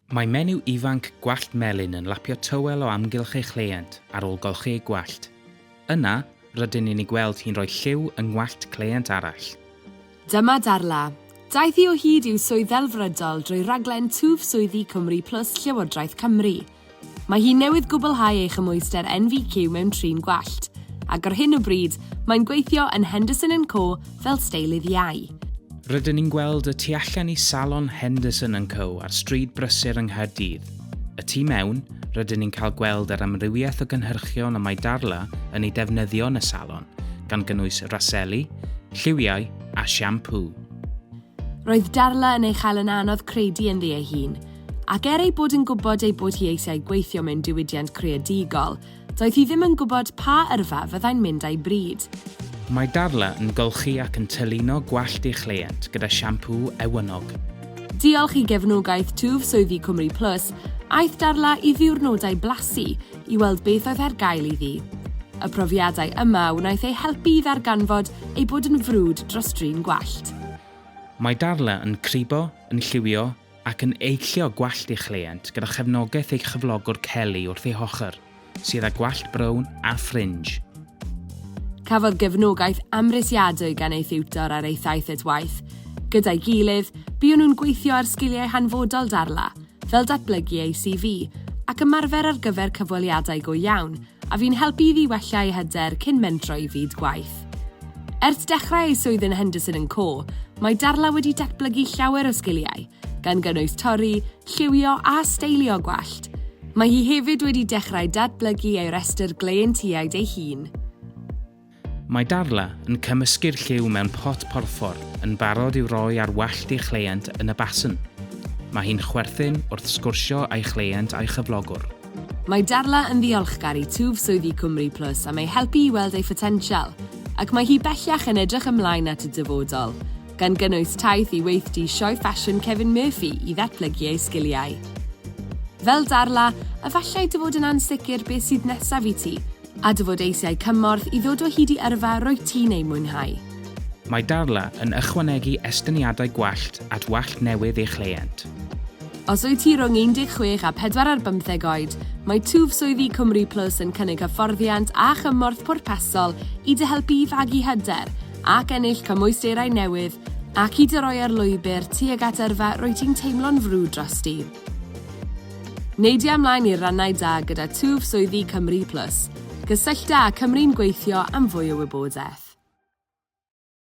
Mae menyw ifanc gwallt melyn yn lapio tywel o amgylch ei chleient ar ôl golchi ei gwallt. Yna, rydyn ni'n ei gweld hi'n rhoi lliw yng ngwallt cleient arall. Dyma Darla. Daeth hi o hyd i'w swydd ddelfrydol drwy raglen Twf Swyddi Cymru Plus Llywodraeth Cymru. Mae hi newydd gwblhau ei chymhwyster NVQ mewn trin gwallt, ac ar hyn o bryd, mae'n gweithio yn Henderson and Co fel steilydd iau. Rydyn ni'n gweld y tu allan i Salon Henderson and Co ar Stryd Brysur yng Nghaerdydd. Y tu mewn, rydyn ni'n cael gweld yr amrywiaeth o gynhyrchion y mae Darla yn eu defnyddio yn y salon, gan gynnwys raseli, lliwiau a siampŵ. Roedd Darla yn ei chael yn anodd credu ynddi ei hun, ac er ei bod yn gwybod ei bod hi eisiau gweithio mewn diwydiant creadigol, Doedd hi ddim yn gwybod pa yrfa fyddai'n mynd â'i bryd. Mae Darla yn golchi ac yn tylino gwallt ei chleient gyda siampŵ ewynnog. Diolch i gefnogaeth twf swyddi Cwmri Plus, aeth Darla i ddiwrnodau blasu i weld beth oedd ar gael iddi. Y profiadau yma wnaeth ei helpu i ddarganfod ei bod yn frwd dros drin gwallt. Mae Darla yn cribo, yn lliwio, ac yn eillio gwallt ei chleient gyda chefnogaeth ei chyflogwr Kelly wrth ei hochr, sydd â gwallt brown a ffrinj. Cafodd gefnogaeth amhrisiadwy gan ei thiwtor ar ei thaith at waith. Gyda'i gilydd, buon nhw'n gweithio ar sgiliau hanfodol Darla, fel datblygu ei CV ac ymarfer ar gyfer cyfweliadau go iawn, a fu'n helpu iddi wella ei hyder cyn mentro i fyd gwaith. Ers dechrau ei swydd yn Henderson and Co, mae Darla wedi datblygu llawer o sgiliau, gan gynnwys torri, lliwio a steilio gwallt. Mae hi hefyd wedi dechrau datblygu ei restr gleientiaid ei hun. Mae Darla yn cymysgu'r lliw mewn pot porffor yn barod i'w roi ar wallt ei chleient yn y basen. Mae hi'n chwerthin wrth sgwrsio â'i chleient a'i chyflogwr. Mae Darla yn ddiolchgar i twf swyddi Cwmri Plus am ei helpu i weld ei photensial, ac mae hi bellach yn edrych ymlaen at y dyfodol, gan gynnwys taith i weithdy sioe ffasiwn Kevin Murphy i ddatblygu ei sgiliau. Fel Darla, efallai dy fod yn ansicr beth sydd nesaf i ti, A dy fod eisiau cymorth i ddod o hyd i yrfa rwyt ti'n ei mwynhau? Mae Darla yn ychwanegu estyniadau gwallt at wallt newydd ei chleient. Os wyt ti rhwng 16 a 45 oed, mae twf swyddi Cymru Plus yn cynnig hyfforddiant a chymorth pwrpasol i dy helpu i fagu hyder ac ennill cymwysterau newydd ac i dy roi ar lwybr tuag at yrfa rwyt ti'n teimlo'n frwd drosti. Neidia ymlaen i'r rannau da gyda twf swyddi Cymru Plus. Cysyllta â Cymru'n Gweithio am fwy o wybodaeth.